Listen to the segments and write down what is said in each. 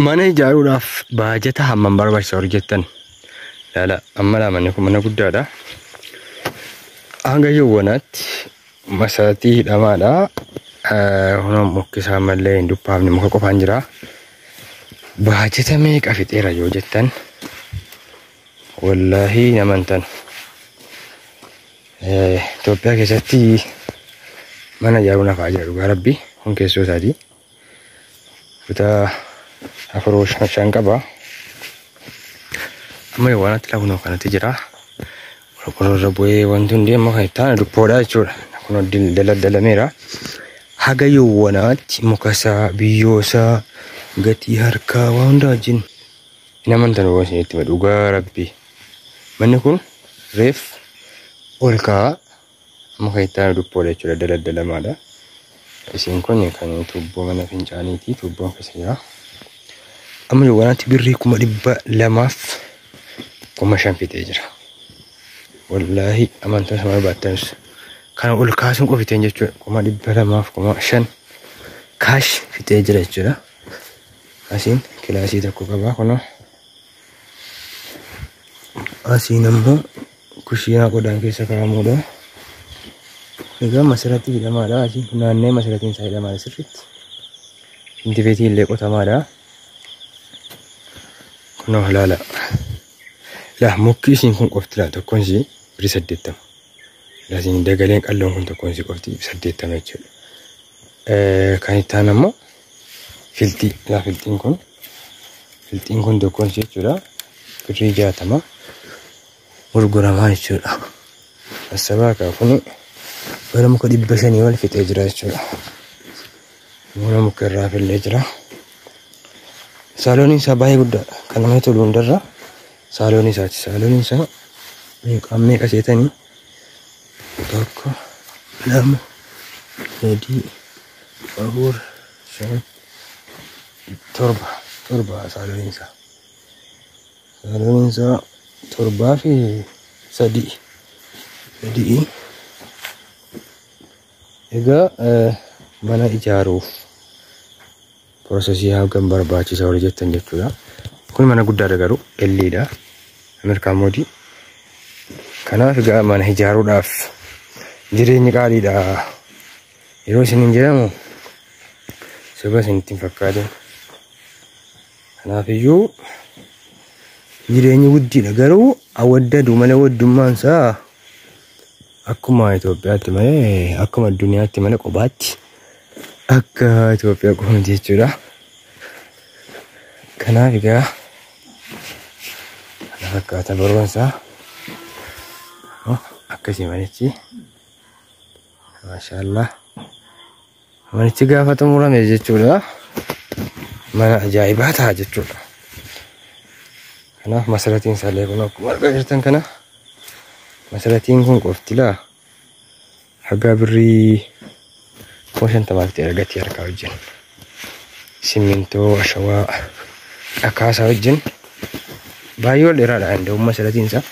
Mana ijaaruudhaaf baajata hammam barbaachisa warri jettan laala amma laa manni kun mana guddaadha. Hanga yawwanaatti masaatii hidhamaadha. Kunoo mukkisaa malee hin duphaafne muka qofaan jira. Baajata meeqa fixeera yoo jettan wallaahi nama hin tanu. Itoophiyaa keessatti mana ijaaruun hafaa jira dhugaa rabbi kun keessoo isaati. Kutaa afur shan shan qaba. Amma yoo waan itti kunoo kanatti jira. Qorqorroo irra bu'ee wanti hundi amma kan itti aanu duppoodha jechuudha. Kunoo daldalameera. Haga yoo wanaatti mukasaa biyyoosaa gatii harkaa waan hundaa wajjin hin amantan waan isinitti dhugaa rabbi. Manni kun reef ol ka'aa Amma kan itti aanu duppoodha jechuudha daladda lamaadha. Isiin kun kan tuubboo mana fincaaniiti tuubboon keessa jira. Amma yoowwanaatti birrii kuma dhibba lamaaf kuma shan fixee jira. Wallaahi amantaa sama baattanis kana ol kaasuun qofiteen jechuudha kuma dhibba lamaaf kuma shan kaash fixee jira jechuudha. Asiin kilaasii tokko qabaa kunoo asiin ammoo Kushiinaa qodaan keessa kaa'amuudha. Egaa masirratti hidhamaadha. Naannee masiratiin isaa hidhamaadha sirriitti. Intibeetii illee qotamaadha. Kunoo halaala. Laa mukki isiin kun qofti laa tokkoon isii biri saddeettama. Laa isiin dagaleen qalloon kun tokkoon isii qofti saddeettama jechuudha. Kan itti aanu ammoo filxii yaa filxiin kun filxiin kun tokkoon ishee jechuudha birrii jaatama gurguramaa jechuudha asabaa kaa kun bara muka dhibba shanii wal fixee jira jechuudha mana muka irraa fillee jira saalooniin isaa baay'ee guddaadha kan namatti tolu hundarra saaloonii isaati saalooniin isaa meeqaan meeqa seetanii tokko lama sadii afur shan torba torba sagaleen isaa sagaleen isaa torbaa fi sadii sadii egaa eh, mana ijaaruuf Processii hagam barbaachisa warri jettan jechuudha. Kun mana guddaadha garuu L-dha. Ameerikaa moodii. Kanaaf egaa mana ijaaruudhaaf jireenyi qaaliidha. Yeroo isin hin jedhamu soba isin ittiin fakkaatin. Kanaaf iyyuu jireenyi guddiidha garuu awwaddadu malee waddummaan isaa akkuma Itoophiyaatti malee akkuma addunyaatti malee kophaatti akka Itoophiyaa qofa miti jechuudha. Kanaaf egaa kana fakkaata barumsa akkasii malichi maashaallah. Manichi gaafa xumurame jechuudha. Mana ajaa'ibaa ta'a jechuudha. Kanaaf masaratiin isaallee kun akkuma argaa jirtan kana masaratiin kun qofti laa hagaa birrii kuma shantamaatti argatti harkaa wajjin. Simmintoo, ashawaa, dhakaasaa wajjin baay'ee ol dheeraadha danda'umma masaratiin isaa.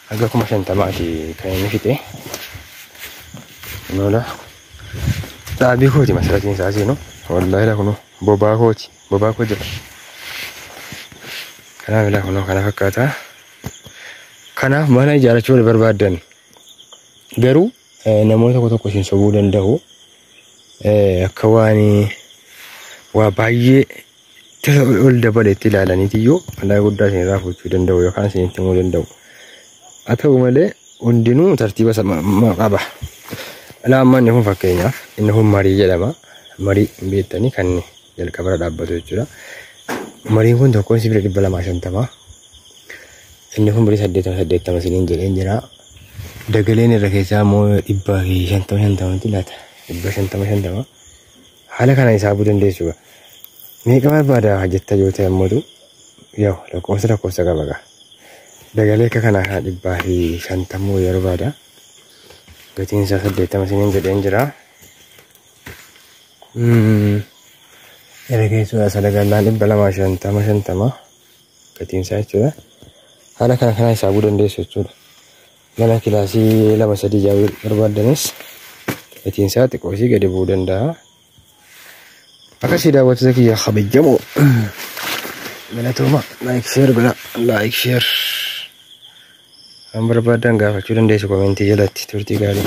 haga kuma shantamaati kan inni fixe noola dhaabii kooti masalatiin isaa seenu wallaahi laa kunoo bobaa kooti bobaa koo jira kanaaf ilaa kunoo kana fakkaata kanaaf mana ijaarachuu wal barbaaddan garuu eh, namoota tokko tokko isin sobuu danda'u Eh, akka waan waa baay'ee ol dabale itti ilaalaniitiyyuu madaa guddaa isin irraa fuuchuu danda'u yookaan isin itti himuu danda'u. Haa ta'u malee hundinuu tartiiba isa ma- ma- qaba. Alaa amma inni kun fakkeenyaaf inni kun marii jedhama. Marii hin beektanii kan jalqabarra dhaabbatu jechuudha. Mariin kun tokkoon sibiila dhibba lamaa shantamaa. Inni kun birii saddeetama saddeettama isiniin jedheen jira. Dagaleen irra keessaa immoo dhibba fi shantama shantamatti laata. Dhibba shantama shantama. Haala kana hisaabuu dandeessu gaa. Meeqa barbaada jetta yoo ta'e ammoo yoo lakkoofsa lakkoofsa qaba gaa. Dagalee akka kanaa kana dhibbaa fi shantamuu wayii barbaada. Gatiin isaa saddeettama isiniin jedheen jira. Gara keessuudha salagannaan dhibba lamaa shantama shantama gatiin isaa jechuudha. Haala kana kana hisaabuu dandeessu jechuudha. Mana kilaasii lama sadii jaawii barbaaddanis gatiin isaa xiqqoo isii gadi bu'uu danda'a. Akkasii daawwattoota kiyya kabajamoo galatooma laayik sheer godha laayik sheer kan barbaadan gaafachuu dandeessu komentii jalatti turtii gaarii.